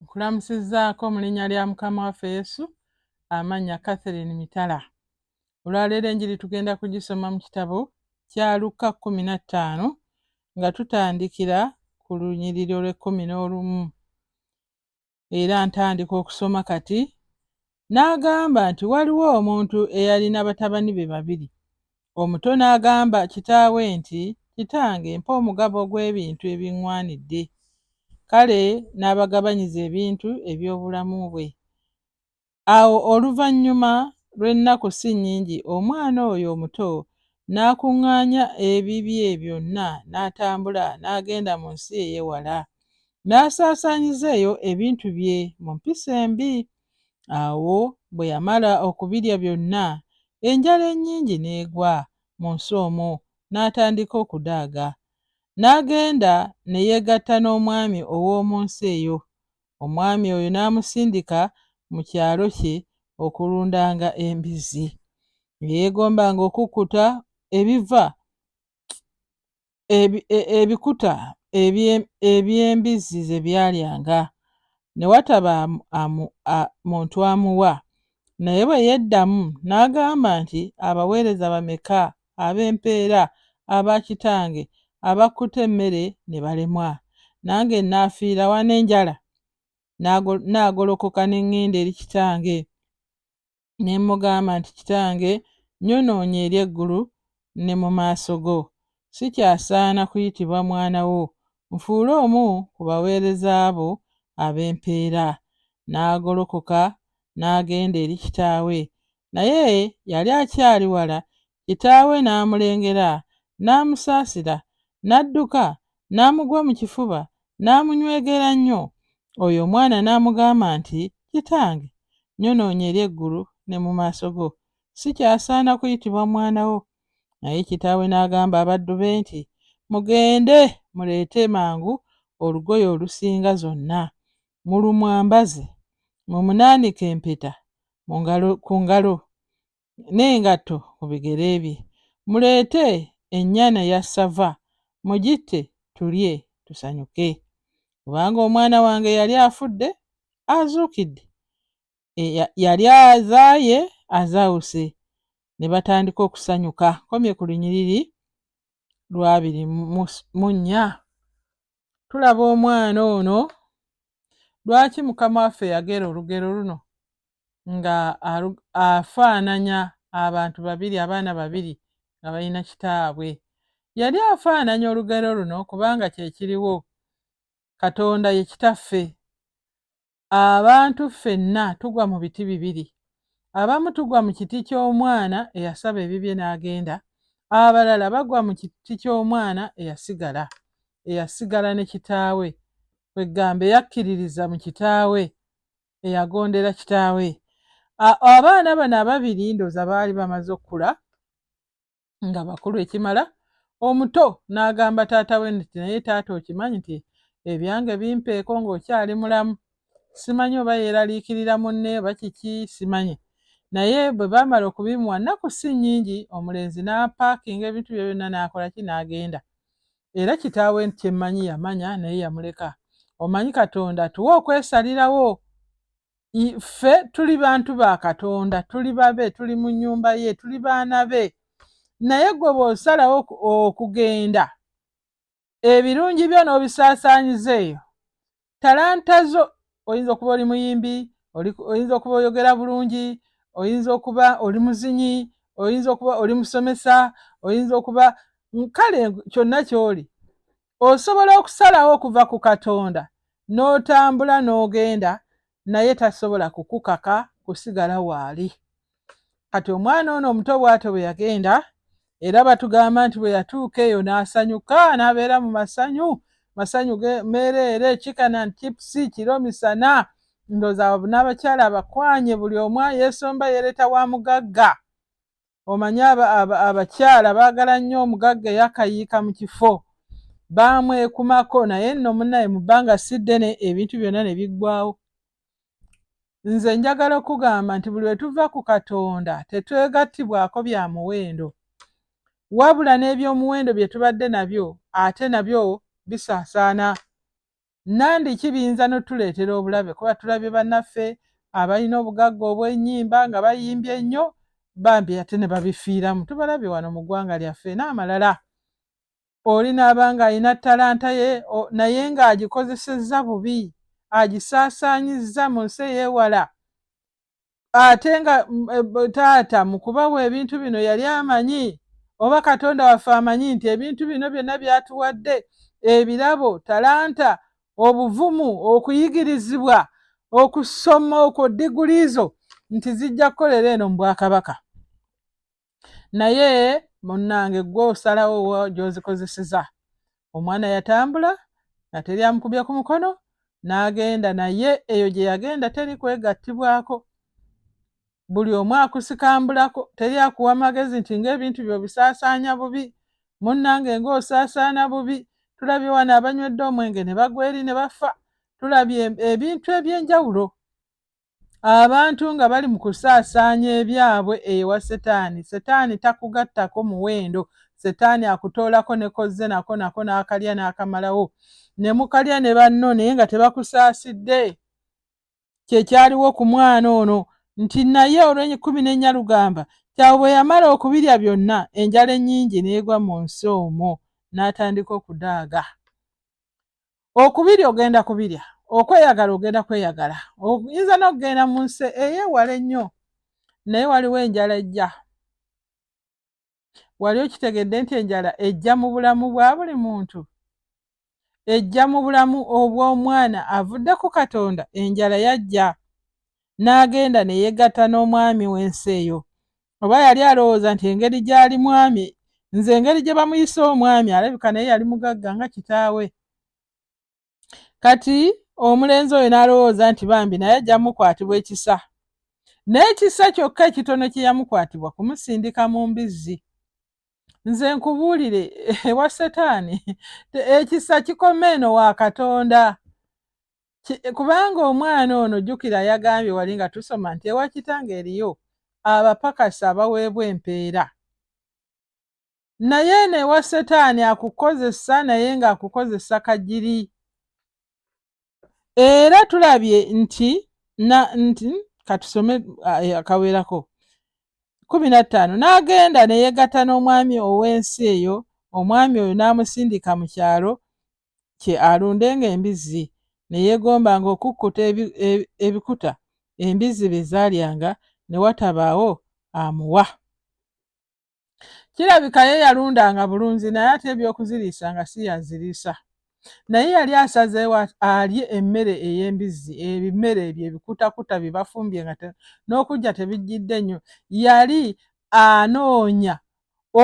nkulamusizaako mu linnya lya mukama waffe yesu amannya catherine mitala olwaleero enjiri tugenda kugisoma mu kitabo kya lukka kumi na ttaano nga tutandikira ku lunyiriri olw'ekkumi n'olumu era ntandika okusoma kati. N'agamba nti waliwo omuntu eyalina batabani be babiri. Omuto n'agamba kitaawe nti, Kitange, mpa omugabo ogw'ebintu ebiŋŋwanidde. Kale n'abagabanyiza ebintu eby'obulamu bwe. Awo oluvannyuma lw'ennaku si nnyingi omwana oyo omuto n'akuŋŋaanya ebibye byonna n'atambula n'agenda mu nsi ey'ewala, n'asaasaanyiza eyo ebintu bye mu mpisa embi. Awo bwe yamala okubirya byonna, enjala ennyingi n'egwa mu nsi omwo, n'atandika okudaaga. N'agenda ne yeegatta n'omwami ow'omu nsi eyo, omwami oyo n'amusindika mu kyalo kye okulundanga embizzi. Yeegombanga okukkuta ebiva ebi, e, ebikuta eby'embizzi ze byalyanga ne wataba amu, a, muntu amuwa. Naye bwe yeddamu n'agamba nti, Abaweereza bameka ab'empeera, aba kitange, abakkute emmere ne balemwa. Nange nnaafiira wa n'enjala? Nnaagolokoka ne ŋŋenda eri kitange, ne mmugamba nti, Kitange, nnyonoonye eri eggulu ne mu maaso go. Sikyasaana kuyitibwa mwana wo. Nfuule omu ku baweereza bo ab'empeera. Nnaagolokoka n'agenda eri kitaawe. Naye yali akyali wala, kitaawe n'amulengera, n'amusaasira, n'adduka, n'amugwa mu kifuba, n'amunywegera nnyo. Oyo omwana n'amugamba nti, Kitange, nyonoonye eri eggulu ne mu maaso go. Sikyasaana kuyitibwa mwana wo. Naye kitaawe n'agamba abaddu be nti, Mugende muleete mangu olugoye olusinga zonna. mulumwambaze, mumunaanike empeta ku ngalo n'engatto ku bigere bye, muleete ennyana ya ssava mugitte tulye tusanyuke, kubanga omwana wange yali afudde azuukidde, yali azaaye azaawuse, ne batandika okusanyuka. Nkomye ku lunyiriri lwabiri mu nnya. tulaba omwana ono lwaki mukama waffe yagera olugero luno nga afaananya abantu babiri abaana babiri nga balina kitaabwe yali afaananya olugero luno kubanga kyekiriwo katonda ye kitaffe Abantu ffenna tugwa mu biti bibiri. Abamu tugwa mu kiti ky'omwana eyasaba ebibye n'agenda, abalala bagwa mu kiti ky'omwana eyasigala, eyasigala ne kitaawe, kweggamba eyakkiririza mu kitaawe, eyagondera kitaawe. Abaana bano ababiri ndooza baali bamaze okukula, nga bakulu ekimala omuto n'agamba taata we nti naye taata okimanyi nti ebyange bimpeeko ng'okyali mulamu simanyi oba yeeraliikirira munne oba kiki simanyi naye bwe baamala okubimuwa nnaku si nnyingi omulenzi n'apaakinga ebintu bye byonna n'akola ki n'agenda era kitaawe kye mmanyi yamanya naye yamuleka omanyi katonda tuwe okwesalirawo ffe tuli bantu ba katonda tuli babe tuli mu nyumba ye tuli baana be naye gwe bw'osalawo okugenda ebirungi byo n'obisaasaanyiza eyo talanta zo oyinza okuba oli muyimbi oyinza okuba oyogera bulungi oyinza okuba oli muzinyi oyinza okuba oli musomesa oyinza okuba kale kyonna ky'oli osobola okusalawo okuva ku katonda n'otambula n'ogenda naye tasobola kukukaka kusigala waali kati omwana ono omuto bw'atyo bwe yagenda era batugamba nti bwe yatuuka eyo n'asanyuka n'abeera mu masanyu masanyu meereere kikana ntipusi kiro misana ndooza n'abakyala abakwanye buli omu yeesomba yeereeta wa mugagga omanyi abakyala baagala nnyo omugagga eyakayiika mu kifo baamwekumako naye nno munaye mu bbanga si ddene ebintu byonna ne biggwawo nze njagala okugamba nti buli wetuva ku katonda tetwegattibwako bya muwendo wabula n'eby'omuwendo bye tubadde nabyo ate nabyo bisaasaana nandi ki biyinza notuleetera obulabe kuba tulabye banaffe abalina obugagga obwenyimba nga bayimbye ennyo bambi ate ne babifiiramu tubalabye wano mu ggwanga lyaffe n'amalala oli naaba nga alina talanta ye naye ng'agikozesezza bubi agisaasaanyizza mu nsi ey'ewala ate nga mm, eh, taata mu kubawa ebintu bino yali amanyi oba katonda waffe amanyi nti ebintu bino byonna byatuwadde ebirabo talanta obuvumu okuyigirizibwa okusoma okwo diguliizo nti zijja kukolera eno mu bwakabaka naye munnange gwe osalawo gyozikozeseza omwana yatambula nga teri amukubye ku mukono n'agenda naye eyo gye yagenda teri kwegattibwako buli omu akusikambulako teri akuwa magezi nti ng'ebintu byo bisaasaanya bubi munnange ng'osaasaana bubi tulabye wano abanywedde omwenge ne bagwa eri ne bafa tulabye ebintu eby'enjawulo abantu nga bali mu kusaasaanya ebyabwe ewa setaani setaani takugattako muwendo setaani akutoolako ne kozze nako nako n'akalya n'akamalawo ne mukalya ne banno naye nga tebakusaasidde kye kyaliwo ku mwana ono nti naye olw'enkumi n'ennya lugamba kyawe bwe yamala okubirya byonna enjala ennyingi n'egwa mu nsi omwo n'atandika okudaaga okubirya ogenda kubirya okweyagala ogenda kweyagala oyinza n'okugenda mu nsi eyewala ennyo naye waliwo enjala ejja wali okitegedde nti enjala ejja mu bulamu bwa buli muntu ejja mu bulamu obw'omwana avudde ku katonda enjala yajja n'agenda ne yegatta n'omwami w'ensi eyo oba yali alowooza nti engeri gy'ali mwami nze engeri gye bamuyise omwami alabika naye yali mugagga nga kitaawe kati omulenzi oyo n'alowooza nti bambi naye ajja mukwatibwa ekisa n'ekisa kyokka ekitono kye yamukwatibwa kumusindika mu mbizzi nze nkubuulire ewa setaani ekisa kikoma eno wa katonda kubanga omwana ono jjukira yagambye wali nga tusoma nti ewa kitange eriyo abapakasi abaweebwa empeera naye eno ewa setaani akukozesa naye ng'akukozesa kagiri era tulabye nti na nti katusome akawerako kumi na ttaano n'agenda ne yeegatta n'omwami ow'ensi eyo omwami oyo n'amusindika mu kyalo kye alundenga embizzi ne yeegombanga okukkuta ebikuta embizzi bye zaalyanga ne watabaawo amuwa. Kirabika ye yalundanga bulunzi naye ate eby'okuziriisa nga si y'aziriisa. Naye yali asazeewo alye emmere ey'embizzi, ebimere ebyo ebikutakuta bye bafumbye nga n'okujja tebijjidde nnyo. Yali anoonya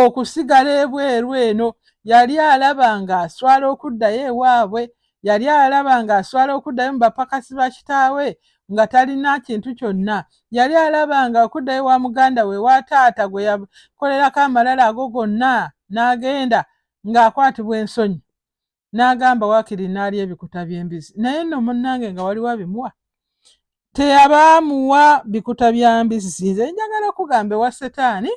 okusigala ebweru eno yali alaba nga aswala okuddayo ewaabwe yali alaba nga aswala okuddayo mu bapakasi ba kitaawe nga talina kintu kyonna yali alaba nga okuddayo wa muganda we wa taata gwe yakolerako amalala ago gonna n'agenda ng'akwatibwa ensonyi n'agamba waakiri n'alya ebikuta by'embizi naye nno munnange nga waliwo abimuwa teyaba amuwa bikuta bya mbizi nze njagala okugamba ewa setaani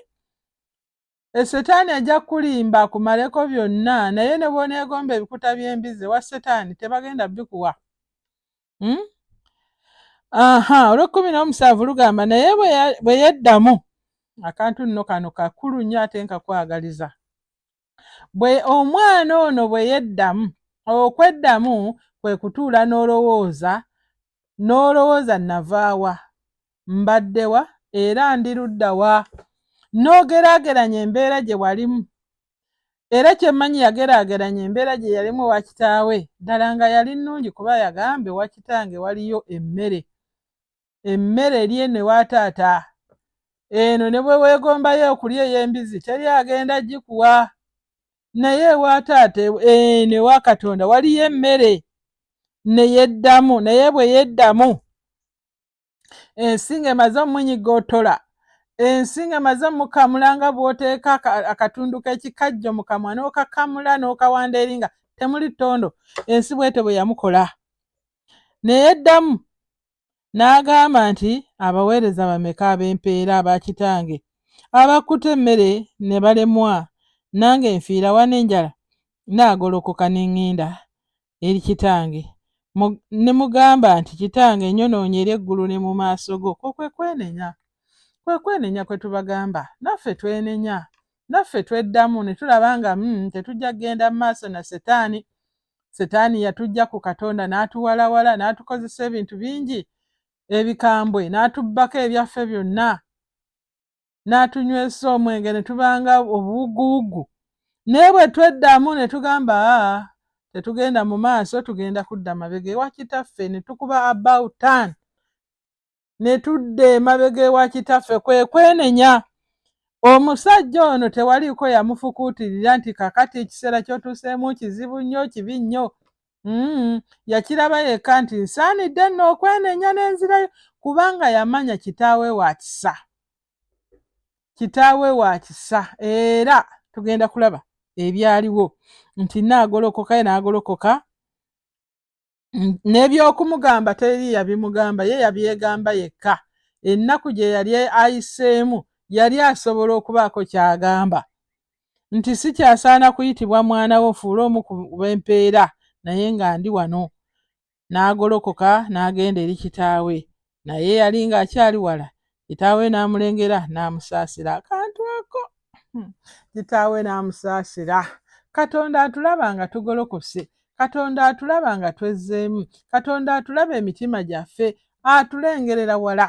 esetaani ajja kukulimba akumaleko byonna naye ne bwoneegomba ebikuta by'embizi ewa setaani tebagenda bikuwa hmm? aha olw'ekkumi n'omusanvu lugamba naye bwe yeddamu akantu nno kano kakulu nnyo ate nkakwagaliza bwe omwana ono bwe yeddamu okweddamu kwe kutuula n'olowooza n'olowooza navaawa mbaddewa era ndi luddawa n'ogeraageranya embeera gye walimu era kyemmanyi yageraageranya embeera gye yalimu ewa kitaawe ddala nga yali nnungi kuba yagambe wa kitange waliyo emmere emmere eri eno ewa taata eno ne bwe weegombayo okulya ey'embizzi teri agenda gikuwa naye ewa taata eno ewa katonda waliyo emmere ne yeddamu naye bwe yeddamu ensinga emaze omunyigotola ensinga emaze omukamula nga bw'oteeka akatundu k'ekikajjo mu kamwa n'okakamula n'okawanda eri nga temuli ttondo ensi bwete bwe yamukola Ne yeddamu n'agamba nti, Abaweereza bameka ab'empeera aba kitange abakuta emmere ne balemwa, nange nfiira wa n'enjala? Nnaagolokoka ne ŋŋenda eri kitange ne mugamba nti, Kitange, nyonoonye eri eggulu ne mu maaso go. Okwo kwe kwenenya. Kwe kwenenya kwe tubagamba. Naffe twenenya. Naffe tweddamu ne tulaba nga, mm, tetujja kugenda mu maaso na ssetaani. setaani yatujja ku katonda n'atuwalawala n'atukozesa ebintu bingi ebikambwe n'atubbako ebyaffe byonna n'atunywesa omwenge ne tubanga obuwuguwugu naye bwe tweddamu ne tugamba aa tetugenda mu maaso tugenda kudda mabega ewa kitaffe ne tukuba about tan ne tudda emabega ewa kitaffe kwe kwenenya omusajja ono tewaliiko yamufukuutirira nti kakati ekiseera kyotuuseemu kizibu nnyo kibi nnyo mm, yakiraba yekka nti nsaanidde nno okwenenya n'enzirayo kubanga yamanya kitaawe wa kisa kitaawe wa kisa era tugenda kulaba ebyaliwo nti naagolokoka ye naagolokoka Mm, n'ebyokumugamba teri yabimugamba ye yabyegamba yekka ennaku gye yali ayiseemu yali asobola okubaako ky'agamba nti si kyasaana kuyitibwa mwana wo nfuule omu ku bempeera naye nga ndi wano n'agolokoka n'agenda eri kitaawe naye yali ng'akyali wala kitaawe n'amulengera n'amusaasira akantu ako hmm. kitaawe n'amusaasira katonda atulaba nga tugolokose katonda atulaba nga twezzeemu katonda atulaba emitima gyaffe atulengerera wala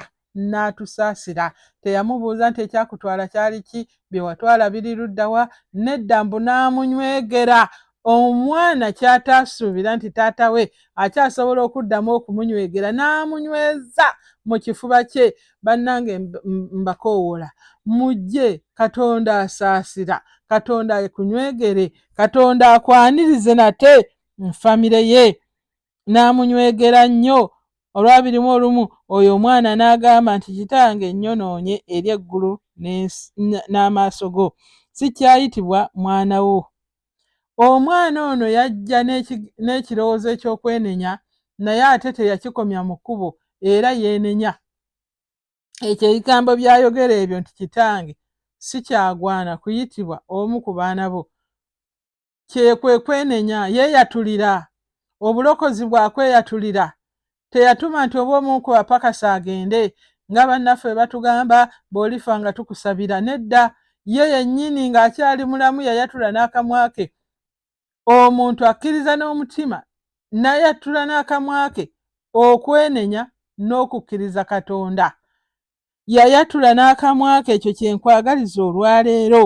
n'atusaasira teyamubuuza nti ekyakutwala kyali ki byewatwala biri luddawa nedda mbu n'amunywegera omwana kyataasuubira nti taata we akyasobola okuddamu okumunywegera n'amunyweza mu kifuba kye bannange mbakoowoola mujje katonda asaasira katonda ekunywegere katonda akwanirize nate nfamire ye n'amunywegera nnyo olwabiri mu olumu oyo omwana n'agamba nti kitange nnyonoonye eri eggulu n'amaaso go sikyayitibwa mwana wo omwana ono yajja n'ekirowoozo eky'okwenenya naye ate teyakikomya mu kkubo era yeenenya ekyo ebigambo byayogera ebyo nti kitange sikyagwana kuyitibwa omu ku baana bo kye kwe kwenenya yeeyatulira obulokozi bwa kweyatulira teyatuma nti oba omu ku bapakasa agende nga bannaffe batugamba bw'olifa nga tukusabira nedda ye yennyini ng'akyali mulamu yayatula n'akamwa ke omuntu akkiriza n'omutima n'ayatula n'akamwa ke okwenenya n'okukkiriza katonda yayatula n'akamwa ke ekyo kye nkwagaliza olwaleero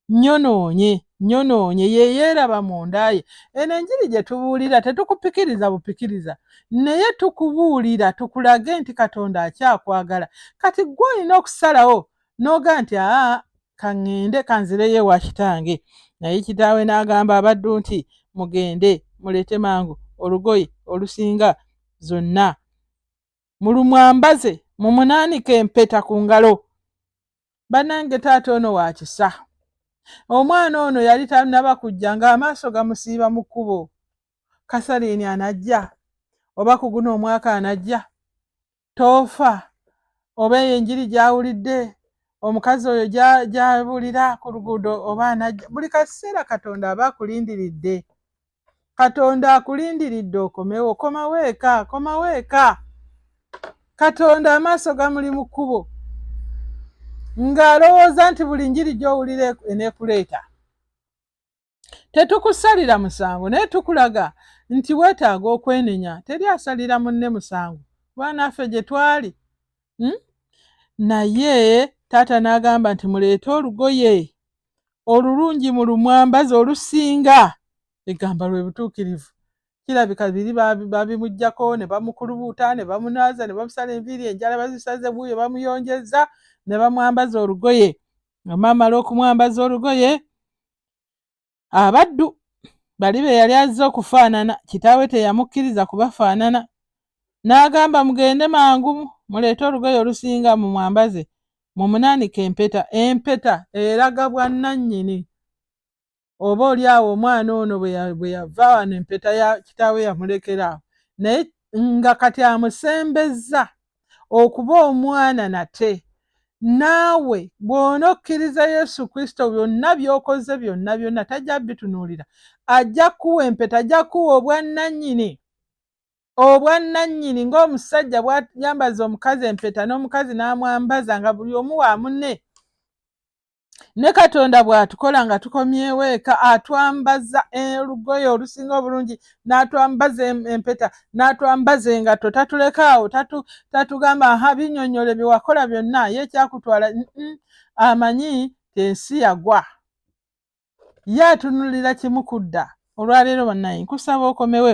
nyonoonye nyonoonye yeyeeraba mundaye eno enjiri gye tubuulira tetukupikiriza bupikiriza naye tukubuulira tukulage nti katonda akyakwagala kati gwe olina okusalawo n'oga nti aa kaŋŋende kanzireyo ewa kitange naye kitaawe n'agamba abaddu nti mugende muleete mangu olugoye olusinga zonna mulumwambaze mumunaanike empeta ku ngalo banange taata ono wakisa omwana ono yali tanaba kujja ng'amaaso gamusiiba mu kkubo kasaliini anajja oba ku guno omwaka anajja toofa oba eyo enjiri gyawulidde omukazi oyo gyabulira ku luguudo oba anajja buli kaseera katonda aba akulindiridde katonda akulindiridde okomewo komawo eka komawo eka katonda amaaso gamuli mu kkubo ng'alowooza nti buli njiri gy'owulira enekuleeta tetukusalira musango naye tukulaga nti weetaaga okwenenya teri asalira munne musango kubanaffe gye twali hmm? naye taata n'agamba nti muleete olugoye olulungi mu lumwambazi olusinga egamba lwe butuukirivu kirabika biri babimugyako ne bamukulubuuta ne bamunaaza ne bamusala enviiri enjala bazisaze buuyo bamuyonjeza ne bamwambaza olugoye amaamala okumwambaza olugoye abaddu bali be yali azze okufaanana kitaawe teyamukkiriza kubafaanana n'agamba mugende mangu muleete olugoye olusinga mu mwambaze mumunaanika empeta. Empeta eraga bwannannyini. Oba oli awo omwana ono bwe yava wano empeta ya kitaawe yamulekera awo, naye nga kati amusembezza okuba omwana nate. Naawe bw'ona okkiriza Yesu Kristo, byonna by'okoze byonna byonna tajja bitunuulira. Ajja kuwa empeta, ajja kuwa obwannannyini. obwannannyini ng'omusajja bwayambaza omukazi empeta n'omukazi n'amwambaza nga buli omu wa munne ne katonda bw'atukola nga tukomyewo eka atwambaza olugoye olusinga obulungi n'atwambaza empeta n'atwambaza engatto tatuleka awo tatugamba aha binyonyole bye wakola byonna ye ekyakutwala amanyi ensi yagwa ye atunulira kimu kudda olwaleero banaye nkusaba okomewe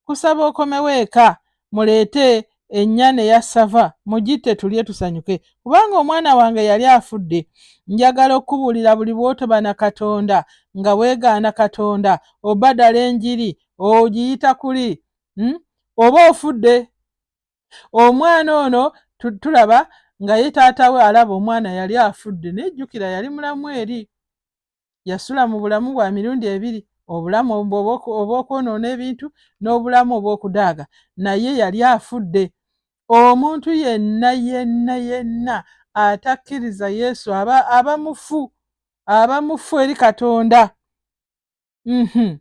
kusaba okomewo eka muleete ennyana eya sava mugitte tulye tusanyuke kubanga omwana wange yali afudde njagala okukubuulira buli bw'otoba na katonda nga weegaana katonda obadala enjiri ogiyita kuli hmm? oba ofudde omwana ono tulaba nga ye taata we alaba omwana yali afudde naye jjukira yali mulamu eri yasula mu bulamu bwa mirundi ebiri obulamu obw'okwonoona ebintu n'obulamu obw'okudaaga naye yali afudde omuntu yenna yenna yenna atakkiriza yesu aba aba mufu aba mufu eri katonda mhm.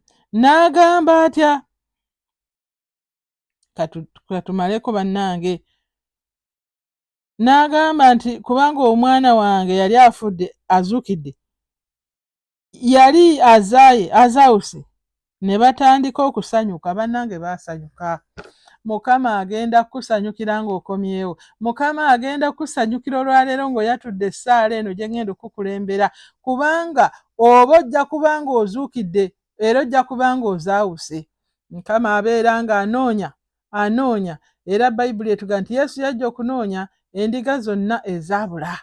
n'agamba atya katumaleko bannange n'agamba nti kubanga omwana wange yali afudde azuukidde yali azaaye azaawuse ne batandika okusanyuka bannange baasanyuka mukama agenda kukusanyukira ng'okomyewo mukama agenda kukusanyukira olwaleero ng'oyatudde essaala eno gye ngenda okukukulembera kubanga oba ojja kubanga ozuukidde era ojja kubanga ozaawuse mukama abeera nga anoonya anoonya era bayibuli etuga nti yesu yajja okunoonya endiga zonna ezaabula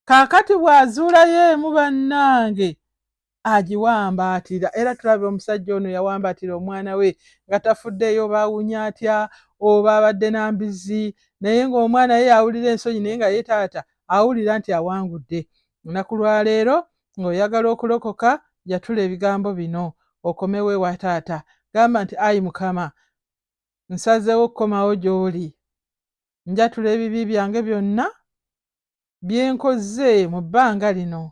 kaakati bw'azuulayo emu bannange agiwambaatira era tulaba omusajja ono yawambaatira omwana we nga tafuddeeyo baawunya atya oba abadde na mbizzi naye ng'omwana ye yawulira ensonyi naye nga ye taata awulira nti awangudde olunaku lwaleero ng'oyagala okulokoka yatula ebigambo bino okomewo ewa taata gamba nti ayi mukama nsazeewo okukomawo gy'oli njatula ebibi byange byonna bye nkoze mu bbanga lino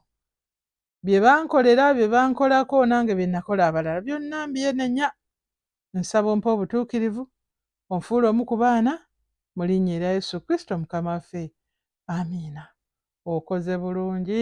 bye bankolera bye bankolako nange bye nakola abalala byonna mbyenenya Nsaba ompe obutuukirivu, onfuule omu ku baana, mu linnya erya Yesu Kristo Mukama waffe. Amiina. Okoze bulungi.